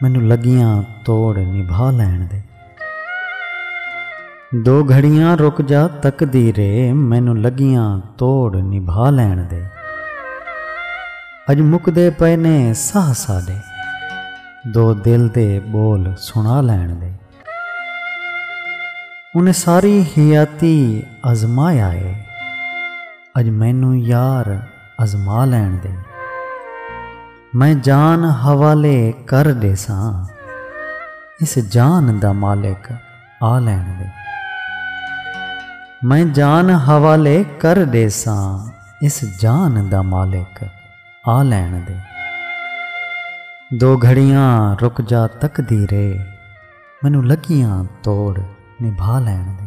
مینوں لگیاں توڑ نبھا لین دے۔ دو گھڑیاں رک جا تقدیرے مینوں لگیاں توڑ نبھا لین دے۔ اج مکدے پئے نے ساہ ساڈے دو دل دے بول سنا لین دے۔ انہیں ساری حیاتی آزمایا اے اج مینوں یار آزما لین دے۔ میں جان حوالے کر ڈیساں اس جان دا مالک آ لین دے میں جان حوالے کر ڈیساں اس جان دا مالک آ لین دے دو گھڑیاں رک جا تقدیرے مینوں لکیاں توڑ نبھا لین دے۔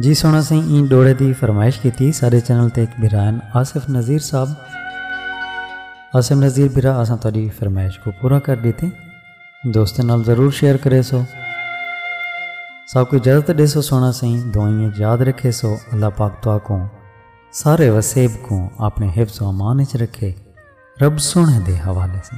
جی سونا سی این ڈوڑے دی فرمائش کیتی سارے چینل تے ایک برائن آصف نذیر صاحب آصف نذیر برا اساں تاری فرمائش کو پورا کر دیتے دوستوں نال ضرور شیئر کرے سو سب کو اجازت دے سو سونا سی دعائیں یاد رکھے سو اللہ پاک تو کو سارے وسیب کو اپنے حفظ و امان اچ رکھے رب سوہݨے دے حوالے سن۔